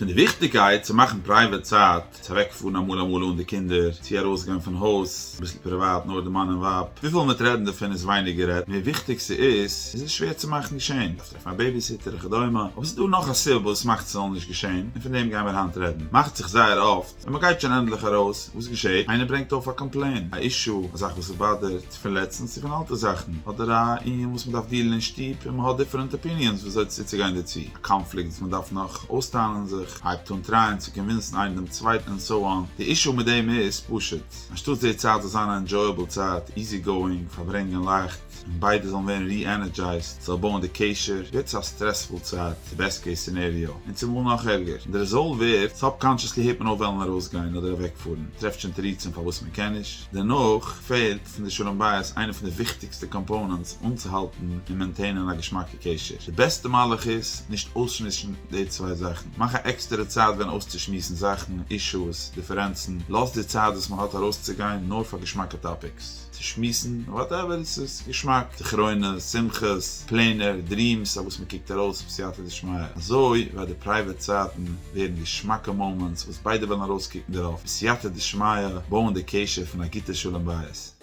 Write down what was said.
פון די וויכטיגקייט צו מאכן פרייוועט צייט, צו אוועק פארן אמאל אמאל אן די קינדער, צו ארויס גיין פון הויז, אביסל פריוואט נאר די מאן און ווייב, וויפיל מ'וועט רעדן דערפון איז ווייניג גערעדט, מער וויכטיג ס'איז, איז עס שווער צו מאכן געשען, דארפסט טרעפן א בעיביסיטער וכדומה, אבער ס'איז דא נאך א סיבה וואס מאכט ס'זאל נישט געשען, און פון דעם גיימיר היינט רעדן, מאכט זיך זייער אפט, ווען מען גייט שוין ענדליך ארויס, וואס געשעהט? איינער ברענגט אויף א קאמפלעין, א אישו, א זאך וואס עס באדערט פון לעצטנס צו פון אלטע זאכן, אדער א ענין וואס מען דארף דיעלן אין שטוב און מען האט דיפערענט אפיניענס ווי אזוי צוצוגיין דערצו, א קאנפליקט וואס מען דארף נאך אויסטענה'ן זיך, הייבט אן טרייען צו קאנווינסן איינער דעם צווייטן און סאו אן, די אישו מיט דעם איז פשוט, אנשטאטס די צייט זאל זיין א ענדזשויעבל צייט, איזי גאואינג, פארברענגען לייכט, און ביידע זאלן ווערן ריענערדזשייזד זאל בויען די קשר גוט צו א סטרעספול צייט, די בעסט קעיס סינעריאו, און צומאל נאך ערגער, און די רעזאלט ווערט, סאבקאנשעסלי הערט מען אויף וועלן ארויס גיין אדער אוועק פארן, טרעפט שוין תירוצים פארוואס מען קען נישט, דערנאך פעלט פון די שלום בית איינע פון די וויכטיגסטע קאמפאונענטס אנצוהאלטן און מעינטעינען א געשמאקע קשר, די בעסטע מהלך איז, נישט אויסשמועסן די צוויי זאכן, מאך א עקסטערע צייט ווען אויסצושמועסן זאכן, אישוס, דיפערענצן, לאז די צייט וואס מען האט ארויסצוגיין נאר פאר געשמאקע טאפיקס. צו שמועסן, וואטעווער עס איז געשמאק, זכרונות, שמחות, פלענער, דריעמס, אויף וואס מען קוקט ארויס בסייעתא דשמיא, אזוי וועט די פרייוועט צייטן ווערן געשמאקע מאמענטס וואס ביידע וועלן ארויסקוקן דערויף בסייעתא דשמיא, בויען די קשר פון א גוטע שלום בית.